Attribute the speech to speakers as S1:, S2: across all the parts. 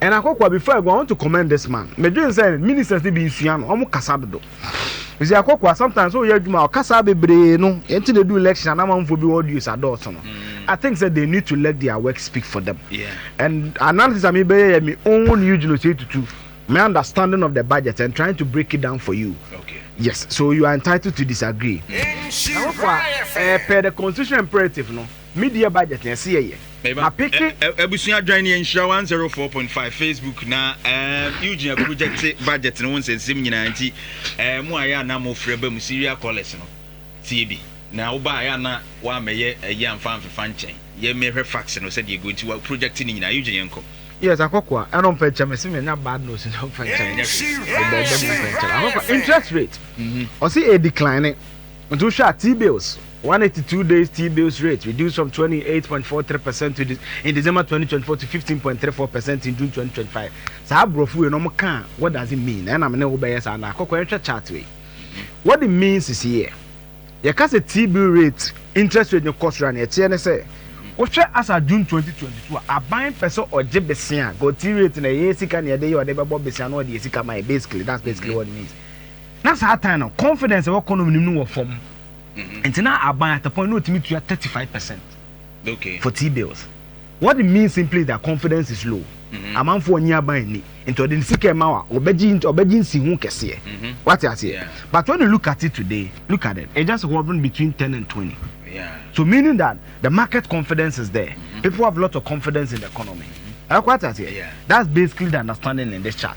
S1: And Akokwa before I go I want to commend this man me dwen sɛ ministers ni bi nsua no wɔn kasa dodo ɛsi Akokwa sometimes o yɛ adwuma ɔkasa bebree no yɛn ti na edu election anamanfoɔ bi audios adɔɔso no mm. I think sɛ they need to let their work speak for them yeah. and analysis a mi bɛyɛ yɛ mi own you gyina ose tutu my understanding of the budget and trying to break it down for you. Okay. Yes, so you are entitled to disagree. Akokwa, uh, per the constitutional imperative, no. Me deɛ budget na ɛse yɛ yɛ. Ma peke. Abusua adwan ne yɛ nhyira one zero four point five facebook na ɛɛm Eugene Akubu gyɛte budget no ho nsɛnsɛm nyinaa nti ɛɛ mo a yɛ ana mo frɛ ba mu serial callers no tie bi na wo ba a yɛ ana wamɛyɛ ɛyi amfa amfefa nkyɛn yɛ mɛhwɛ fax no sɛdeɛ gu nti wa project ne nyinaa Eugene yɛnkɔ. Yes akɔkoa ɛno mfa nkyɛm ɛse me nya bad nose nti mfa nkyɛm me dɛɛdɛm mfa nkyɛm akɔkoa interest rate ɔse ɛɛ decline. Nti wohwɛ a T-bills one eighty two days T-bills rate reduced from twenty eight point four three percent to de in December twenty twenty four to fifteen point three four percent in June twenty twenty five saa aborɔfo wei no wɔn kaa what does it mean ɛna me ne wo bɛyɛ saa na akɔkɔ yɛn hwɛ chart wei what it means is here yɛka sɛ T-bill rate interest rate no kɔ soro a na ɛteɛ ne sɛ wohwɛ as a June twenty twenty two a aban pɛ sɛ ɔgye besia go T rate na ɛyɛ sika na yɛde yɛ ɔde bɛbɔ besia na ɔde yɛ sika ma yɛ basically that's basically what it means. Na saa tan no confidence ɛwɔ kɔnɔ nim no wɔ fam nti na aban at a point na otumi tua thirty five percent okay. for tea bills what it means simply is that confidence is low mm-hmm. amanfoɔ nye aban ni nti ɔde ne sika ɛma wa ɔbɛgye ɔbɛgye nsi ho kɛseɛ mm-hmm. wate aseɛ yeah. but when you look at it today look at it it just hovering between ten and twenty yeah. so meaning that the market confidence is there mm-hmm. people have lot of confidence in the economy. Mm-hmm. That's basically the understanding in this chart.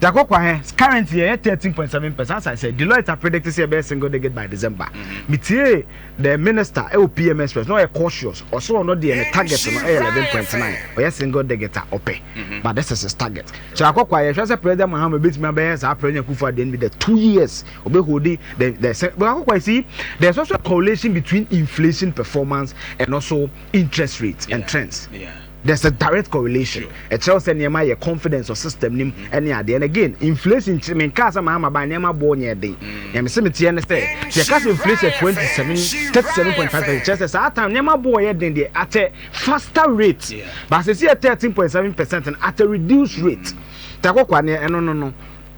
S1: Jaco Kwahe, Currently yɛyɛ thirteen point seven percent asan sɛ Deloitte a predict sɛ yɛbɛyɛ single digit by December. Metiee the minister wɔ PM Express na ɔyɛ cautious, ɔse ɔno deɛ ne target no yɛ eleven point nine, ɔyɛ single digit a ɔpɛ but this is his target. Jaco Kwahe, Yɛhwɛ sɛ President Mahama bɛtumi abɛyɛ saa President Akufo Addo no bi the two years ɔbɛ hold the the sɛ Jaco Kwahe, See there is also a correlation between inflation performance and also interest rates and trends. There's a direct correlation. Ɛkyerɛ sɛ nneɛma yɛ confidence or system nim ɛne adeɛ. And again, inflation kyerɛ me nkaa sɛ Mahama baa nneɛma boɔ nyɛ den. Nea me se me teɛ ne sɛ, sɛ yɛka sɛ inflation 27, 37.5% kyerɛ sɛ saa time nneɛma boɔ yɛ den deɛ at a faster rate. But sɛ si yɛ 13.7% no at a reduced rate. Takɔkwa neɛ ɛno no no.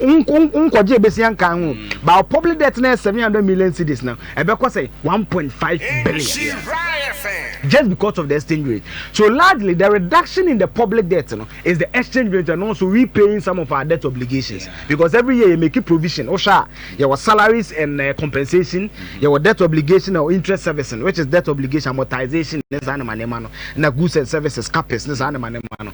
S1: nkɔgye besia nkaa ho mm. but public debt na seven hundred million cedis na ɛbɛkɔ sɛ one point five billion just because of the exchange rate so largely the reduction in the public debt no is the exchange rate and also repaying some of our debt obligations yeah. because every year you make a provision osha your salaries and uh, compensation mm-hmm. your debt obligation or interest servicing which is debt obligation amortization ne saa ne ma ne ma no na goods and services capex ne saa ne ma ne ma no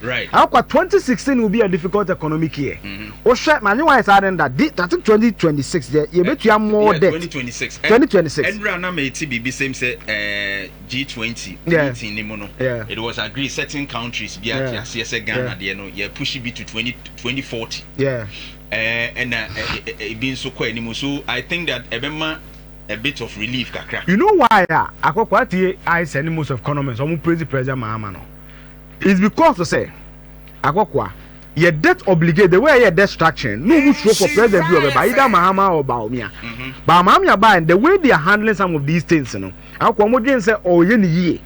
S1: Right. Akwa twenty sixteen will be a difficult economic year. Wohwɛ na anyi wɔn ayɛ saa den da. Di tati twenty twenty six deɛ yɛ bɛ tua more debt. Twenty twenty six. Twenty twenty six. Ɛnura na mɛ ti bibi sɛm sɛ ɛɛ G twenty meeting ni mu no. It was agreed certain countries bi a ti aseɛ sɛ Ghana deɛ no yɛ pushi bi to twenty twenty forty. Ɛɛ ɛna ebi nso kɔ anim so I think that ɛbɛ ma a bit of relief kakra. You know why a akɔkɔ atie ayɛ sɛ ne most of economists wɔn praise President Mahama no. It's because sɛ akɔkoa yɛ debt obligate the way ɛyɛ debt structure no ɔmu suro for president bi ɔbɛba either mahama or baomia but maamia ba and the way they are handling some of these things no akɔkoa ɔmu dwen sɛ ɔyɛ ne yie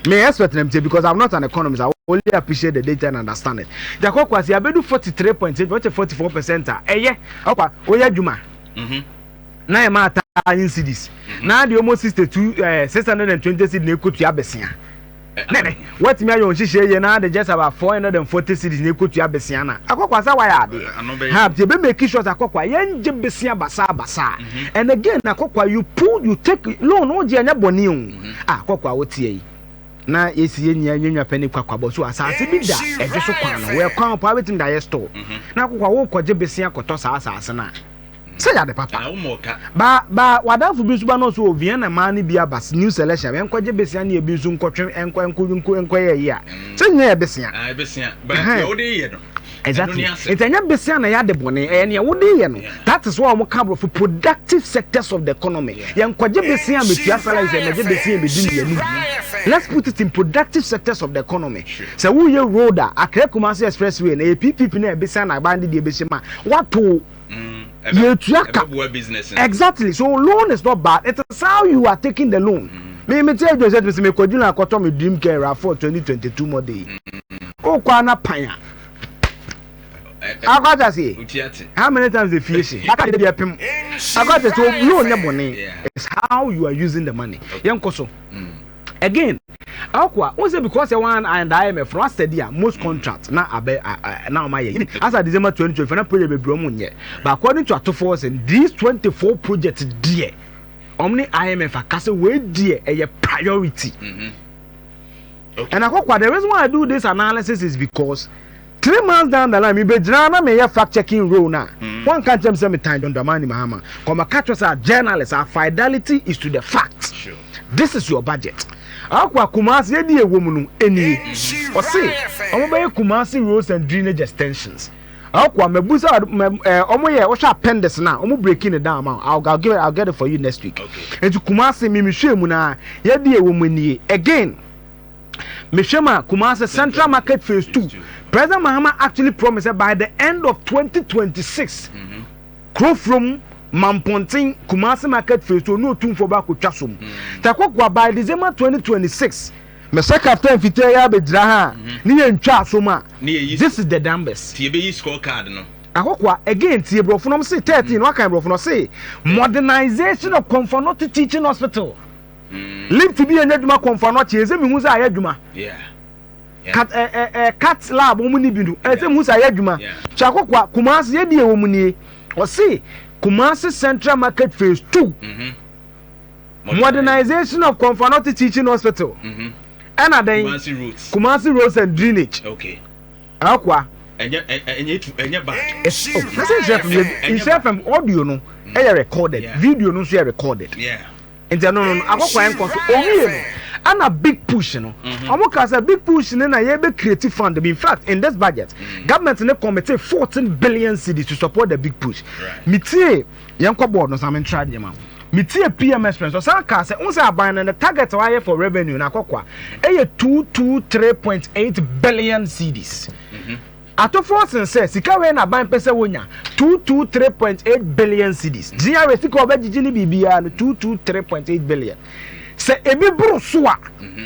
S1: me expert na mtie because I'm not an economist I only appreciate the data and understand it nti akɔkoa sɛ yɛabɛdu 43 point sɛ ɔkyɛ 44 percent a ɛyɛ akɔkoa ɔyɛ adwuma na yɛ maa taa in cities na deɛ ɔmɔ 62 eh, 620 cities na ɛkɔtua bɛsia Na ɛnnɛ, woatumi ayɛ wo nhyehyɛe yie na de just about four hundred and forty cedis na ekotua besia na akɔkwa sɛ wayɛ adeɛ. Ha nti ebe make sure sɛ akɔkwa yɛngye besia basaa basaa. And again akɔkwa you pulled you take loan no wogye ɛnyɛ bɔne o. Ah akɔkwa woteɛ yi. Na yɛsi yɛn nyinaa yɛn nwa pɛ ne kwakwabɔ so asaase bi da ɛdwo so kwan no wɔ ɛkwan paa betumi de ayɛ store. Na akɔkwa wokɔgye besia kɔtɔ saa asaase no a. Sɛ yɛ ade papa. Ba ba w'adamfo bi nso ba no nso wɔ Vienna mmaa no bi aba New Selesia ɛnkɔgye besia ne ebi nso nkɔtwe ɛnkɔ ɛnkɔ nkɔ nkɔyɛ ɛyi a sɛ nyɛ yɛ besia. Ah besia ba deɛ wode yɛ no. Exactly. Nti ɛnyɛ besia na yɛ ade bɔne ɛyɛ nea wode yɛ no. That is why wɔn ka aborɔfo productive sectors of the economy. Yɛn kɔgye besia metua salary sɛ mɛgye besia bedi ne yɛn mu. Let's put it in productive sectors of the economy. Sɛ woyɛ road a Accra Kumasi expressway na yɛ PPP na yɛ besia na aban de deɛ bɛhyɛ mu a wato. Mm, yɛtua ka exactly so loan is not bad it is how you are taking the loan mm. me me tell you sɛ me sɛ me kɔdwiri na akɔtɔ me dream car rafoɔ 2022 model yi wokɔ mm. ana pan a akɔta seɛ how many times they fie se aka de bi apem akɔta so loan nyɛ bɔne it's how you are using the money yɛnkɔ so mm. Again akoa wohu sɛ because yɛ one and I am a from asɛde a most contract na abɛ na ɔma yɛ yini asa December 2020 na project bebree ɔmo nyɛ but according to atofoɔ sɛ these 24 project deɛ ɔmo ne IMF aka sɛ wei deɛ ɛyɛ priority mm-hmm. okay. and akɔkwa the reason why I do this analysis is because Three months down the line, mibegyinaa na mereyɛ fact-checking role no a, wɔanka nkyerɛ me sɛ metan John Dramani Mahama. Nka wɔbɛka kyerɛ wo sɛ, as journalist, our fidelity is to the facts. This is your budget. Akoa, Kumasi, yɛdeɛ a ɛwɔ mu no, ɛnie. Ɔse, wɔbɛyɛ Kumasi roads and drainage extensions. Akoa, mabu sɛ wɔyɛ, wohwɛ appendix no a, wɔn breaking no down ma wo. I'll, give it, I'll get it for you next week. Nti Kumasi, memehwɛɛ mu no ara, yɛdeɛ a ɛwɔ mu nie. Again. mehwɛ mu a kumase central market phase two president mahama actually promise sɛ by the end of twenty twenty six mhm. kurofurom mampɔnten kumase market phase two ɔne otumfoɔ baako twa so mu mhm. takokoa by december twenty twenty six mɛsɛ captain fitaa yi abɛgyina ha mhm. ne yɛ ntwa asom a this is the numbers. tie bɛyi score card no. ahokoa again tie borɔfo nom se thirteen mm. wakan borɔfo no se modernization of comfort not teaching hospital. Lift bi a enya dwuma kɔ mfano akye edze mehu dza ayɛ dwuma. Cat eh eh eh cat lab wɔn ni bi no edze mehu dza ayɛ dwuma. Kyako kwa Kumasi yɛ di ɛwɔ mu nie. Ɔsi Kumasi Central Market Phase Two. Mm-hmm. Modernization of Konfanoti Teaching Hospital. Mm-hmm. Ɛna dɛn? Kumasi roads. Kumasi roads and drainage. Okay. Akwa. Ɛnyɛ ɛnyɛ tu ɛnyɛ back. Ɛsɛ nhyɛ fam nhyɛ fam audio no ɛyɛ recorded video no nso yɛ recorded. Yeah. Nti ɛno no no akɔkwae nkɔ so. Wɔn mmienu ɛna big push no. Wɔn kaa sɛ big push no na yɛbɛ create fund bi. In fact in this budget government no committee fourteen billion cedis to support the big push. Me tie yɛn kɔ board no saa me ntra deɛ ma ho. Me tie PM express ɔsan kaa sɛ n sɛ aban no ne target wɔayɛ for revenue no akɔkwa ɛyɛ two two three point eight billion cedis. Atofo sen sɛ sika wei na aban pɛ sɛ wonya, two two three point eight billion cedis. GRA sika a wɔbɛgyegye ne biribiara no, two two three point eight billion. Sɛ ebi boro so a,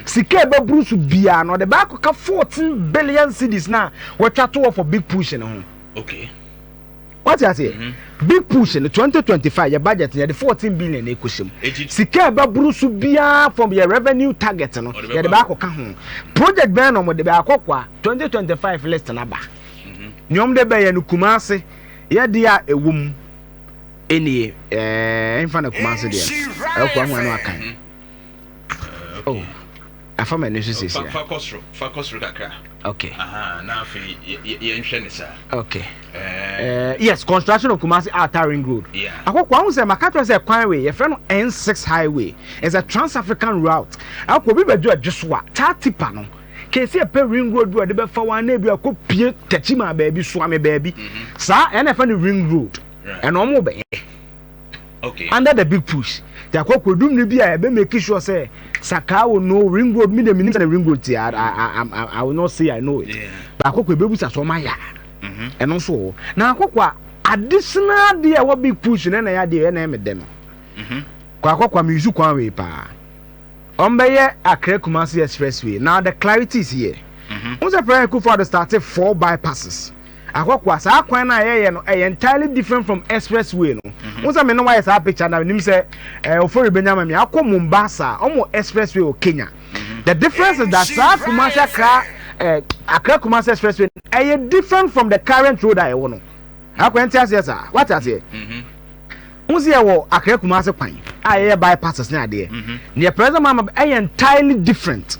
S1: sika a ɛbɛboro so biara no, ɔde bɛakɔka fourteen billion cedis no a wɔatwa to hɔ for big push no ho. Okay. Wate aseɛ? Big push no 2025 yɛ budget no yɛde 14 billion na ɛkɔhyɛ mu. Sika a ɛbɛboro so biara from yɛ revenue target no yɛde bɛ akɔka ho. Project bɛn na wɔde bɛ akɔ kwa 2025 list no aba. Nea wɔde bɛyɛ no Kumase yɛdeɛ a ɛwɔ mu nie ɛɛ ɛmfa na Kumase deɛ ɛkɔ ho ano akan. Oh, afa m'ani so sisi a. Fa kɔ soro, fa kɔ soro kakra. Okay. Aha, na afei yɛnhwɛ ne saa. Okay. Uh, yes, construction of Kumasi Outer Ring Road. Yeah. Akɔkɔ ahun sɛ maka kyerɛ sɛ kwan wei yɛfrɛ no N6 highway. It's a trans-African route. Akɔ obi bɛdwo ɛdwo so a, taa tipa no. Kesi ɛpɛ ring road bi a ɔde bɛfa wɔn anaa bi a kɔ pie kakyi maa baabi soame baabi. Mm-hmm. Saa ɛna ɛfɛ no ring road. Ɛna wɔn bɛyɛ. okay under the big push yɛakɔ akɔdum no bi a ɛbɛ make sure sɛ sakaa wo no ring road mi deɛ menim sɛ ring road te I, I, I, I, I will not say I know it baako kɔ ɛbɛbu sa so ɔma ya ɛno nso wɔ na akɔkɔ a additional deɛ a ɛwɔ big push no ɛna yɛ adeɛ ɛna ɛmɛ dɛ no kɔ akɔkɔ a meyusu kwan wei paa ɔmbɛyɛ Accra Kumasi expressway now the clarity is here mm -hmm. wo sɛ President Kufuor starte four bypasses Akɔkoa, saa kwan no a yɛyɛ no ɛyɛ entirely different from express way no. Mm-hmm. Wosɛ me ne wayɛ saa picture na nim sɛ eh, ofori benya ma me akɔ Mombasa, ɔmo express way wɔ Kenya. Mm-hmm. The difference is that saa Kumasi Accra eh, Accra Kumasi express way ɛyɛ different from the current road a ɛwɔ no. Akɔ ɛnti aseɛ saa, wate aseɛ. Mm-hmm. Wosɛ yɛ wɔ Accra Kumasi kwan a yɛyɛ bypasses ne adeɛ. Nea president mama ɛyɛ entirely different.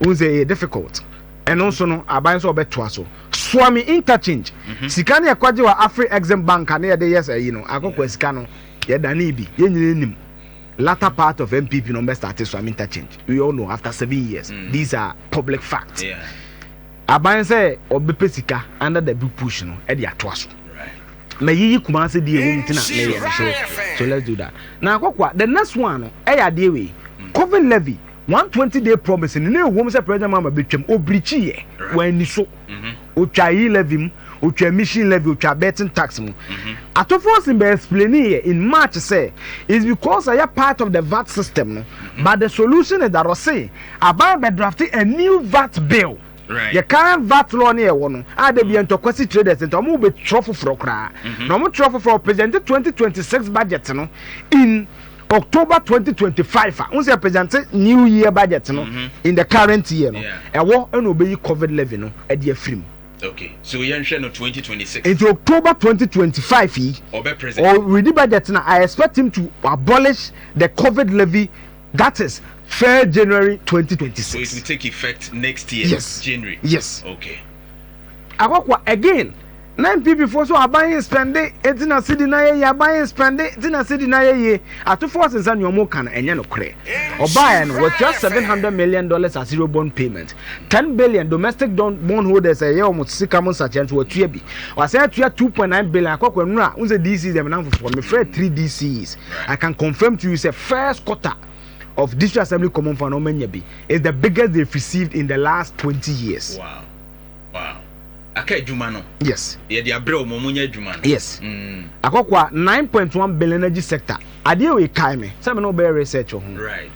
S1: wohu sɛ ɛyɛ difficult ɛno nso no aban nso ɔbɛtoa so soa me interchange mhm. sika no yɛkɔgye wɔ afri exim bank a ne yɛde yɛ sɛ yi no akɔkɔ sika no yɛdane bi yɛn nyina nim latter part of mpp no bɛstarte soa me interchange we all know after seven years mm. these are public facts yeah. aban sɛ ɔbɛpɛ sika under the big push no ɛde atoa so mayiyi kuma ase deɛ ɛwɔ mu ti na meyɛ no so so let's do that na akɔkɔa the next one no ɛyɛ adeɛ wei mm. covid levy One twenty day promise no, na ɛwom sɛ President Mahama bɛtwam, ɔbirikyiiɛ, wanni so. Ɔtwaa yi levy mu, ɔtwaa emission levy, ɔtwaa betting tax mu. Atufoɔ sen bɛ explainiiɛ in March sɛ, it's because ɛyɛ part of the vat system no, but the solution is that ɔse aban bɛdrafte a new vat bill. Yɛ current vat law ne ɛwɔ no a da bia ntɔkwa si traders nti ɔmo bɛ twerɛ foforɔ koraa na ɔmo twerɛ foforɔ ɔ present twenty twenty six budget no in October twenty twenty five a wosɛ present new year budget no in the current year no ɛwɔ ɛna ɔbɛ yi covid levy no ɛde afiri mu. Okay, so yɛn hwɛ no twenty twenty six. Nti October twenty twenty five yi ɔbɛ present ɔ redi budget na I expect him to abolish the covid levy. That is fair January twenty twenty six. So it will take effect next year yes. January. Yes. Okay. Akɔkɔ again. Na NPP foɔ so aban yɛ spɛnde eti na sidi na yɛ yie aban yɛ spɛnde eti na sidi na yɛ yie atofoɔ sensa nea wɔn kan ɛnyɛ no korɛ. Ɔbaa yɛ no wɔtua seven hundred million dollars as zero bond payment. Ten billion domestic don bond holders a ɛyɛ wɔn sika mu nsakyera nso wɔatua bi. Wɔasan atua two point nine billion akɔ akɔ nnura. Wohu sɛ DCs deɛ menam foforɔ mefrɛ three DCs. I can confirm to you sɛ first quarter of district assembly common fund na wɔanya bi. It's the biggest they've received in the last twenty years. Wow. Wow. Aka adwuma no. Yes. Yɛde abrɛ wɔn wɔn nyɛ adwuma no. Yes. Mm. Akɔkɔ a nine point one billion agyi sector. Adeɛ wei kae me sɛ me na wɔbɛyɛ research wɔ ho. Right.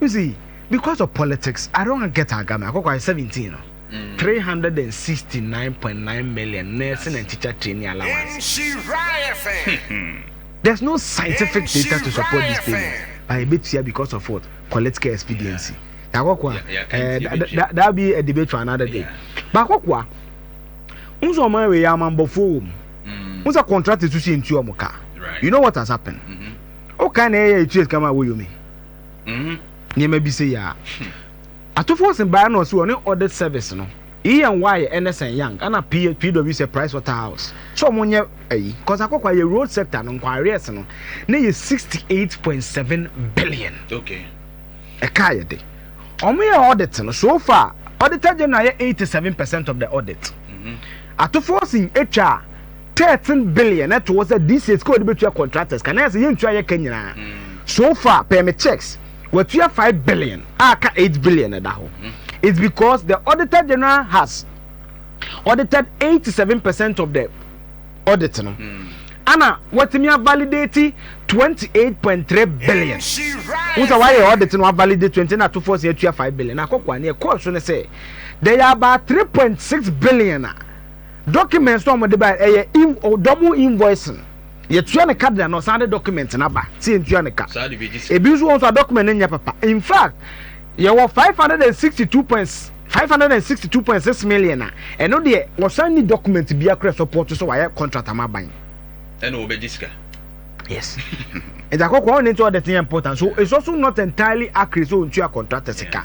S1: You see, because of politics, I don't wan get agame. Akoko ayɛ seventeen no, three hundred and sixty nine point nine million nursing and teacher training allowance. There's no scientific data to support this payment, but ebetua because of what? Political expediency. Akoko, eh, that be a debate for another day. But Akoko, unso ɔman wei amambɔfoɔ wɔ mu. Unsa contract susu yɛ ntua ɔmo ka. You know what has happened? Mm-hmm. Okay, na ɛyɛ etua kama wɔ yomi. Mm. nneɛma bi sei a atofo ɔsen baeɛ na ɔsi ɔne audit service no ENY Ernest and Young ɛna P PwC Price Waterhouse sɛ ɔmo nyɛ ayi cause akɔkɔ ayɛ road sector no nkɔ arrears no ne yɛ sixty eight point seven billion okay ɛka yɛ de ɔmo yɛ audit no so far auditor general yɛ eighty seven percent of the audit mm-hmm. atofo ɔsen atwa 13 billion na ɛto hɔ sɛ this year sika wɔde bɛtua contractors ka na yɛ sɛ yɛntua yɛ ka nyinaa mm. so far pɛɛ me checks wɔtua 5 billion a ka 8 billion ɛda hɔ mm-hmm. it's because the auditor general has audited 87 percent of the audit no mm. ana wɔtumi avalidate 28.3 billion wo sɛ wayɛ audit no avalidate 20 na atofoɔ sɛ atua 5 billion na akɔkɔa ne ɛkɔɔ so no sɛ there are about 3.6 billion a Documents no a wɔde bae ɛyɛ in double invoicing. Yɛtua no ka de na ɔsan de document no aba sɛ yɛntua no ka. Ebi nso wɔ nso a document no nyɛ papa. In fact, yɛwɔ five hundred and sixty two point five hundred and sixty two point six million a ɛno deɛ wɔsan ni document biara kura support sɛ wɔayɛ contract ama aban. Ɛna wɔbɛgye sika. Yes. Ɛdze akɔkɔ ɔne nti ɔde tenyɛ important so it's also not entirely accurate sɛ ɔntua contractor sika.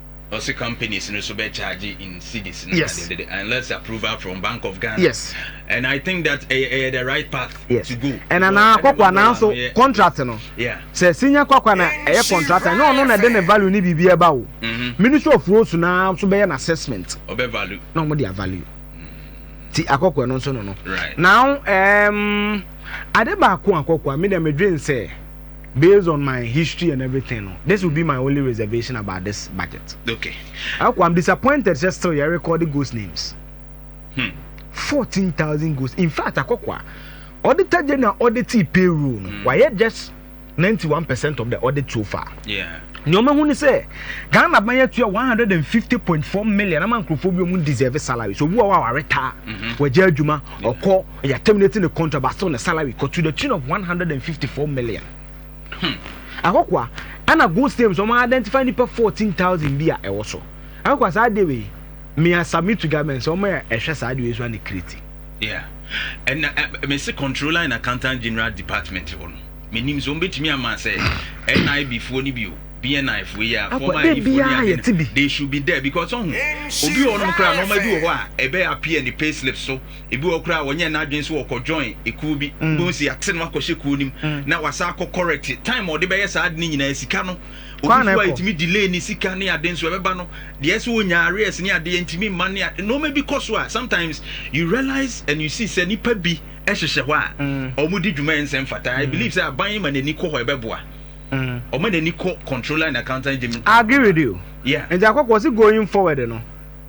S1: Ɔse companies no so bɛ charge in cedis no yes. de de unless approval from Bank of Ghana. Yes. And I think that ɛyɛ eh, ɛyɛ eh, the right path yes. to go. And ana kwakwa na nso contract no. Yeah. Sɛ sinya kwakwa na ɛyɛ contract na ɔno na ɛde ne value ne biribi ɛba o. Mm-hmm. Ministry of Roads na nso bɛyɛ na assessment. Ɔbɛ value. Na ɔmo de a value. Mm-hmm. Ti akɔkɔ no nso no no. Right. Now um, ade baako akɔkɔ a mi na mi dwen sɛ. Based on my history and everything no, this will be my only reservation about this budget. Okay. Ako, I'm disappointed sɛ still yɛ record ghost names. Hmm. 14,000 ghost. In fact, akɔkwa, auditor general audit payroll no, hmm. wayɛ just 91% of the audit so far. Yeah. nneɛma hu ni sɛ ghana ban yɛ tuya one hundred and fifty point four million ama nkurɔfoɔ bi wɔn deserve salary so obi wɔ hɔ a wɔaretaa wɔagya adwuma ɔkɔ. Yɛ a terminate ne contract but still ne salary kɔ to the tune of one hundred and fifty four million. Hmm. Akɔkɔa, ɛna Gold Stem so wɔn identify nipa fourteen thousand bi a ɛwɔ so. Akɔkɔa saa adeɛ wei, me a submit to government sɛ wɔn ɛhwɛ saa adeɛ wei so a ne kiriti. Yeah. And uh, eh, me se controller and accountant general department hɔ no. Me nim so ombetumi ama sɛ NIB foɔ ni bi o. BNI foɔ yi a former ayi foɔ ni ade. They should be there because ɔho obi wɔ nom kra nɔɔma bi wɔ hɔ a ɛbɛ appear ne payslip so Ebi wɔ hɔ koraa a ɔnyɛɛ n'adwene sɛ ɔkɔjoin ekuo bi. Wobɛhu sɛ yɛate no akɔhyɛ kuo no mu na wasan akɔ correct. Time a ɔde bɛyɛ saa ade no nyinaa, sika no, obi nso wɔ a ɛtumi delay ne sika ne ade nso ɛbɛba no, deɛ ɛsɛ ɔnya arrears ne adeɛ ɛntumi mma ne ade. Nnoɔma bi kɔ so a, sometimes you realize and you see sɛ nnipa bi hyehyɛ hɔ a wɔdi dwuma a ɛnsɛ mfata. I believe sɛ aban ma n'ani kɔ hɔ a ɛbɛboa. Ɔma n'ani kɔ Controller and Accountant General. I agree with you. Yeah. Nti Akɔkɔ, ɔse going forward no,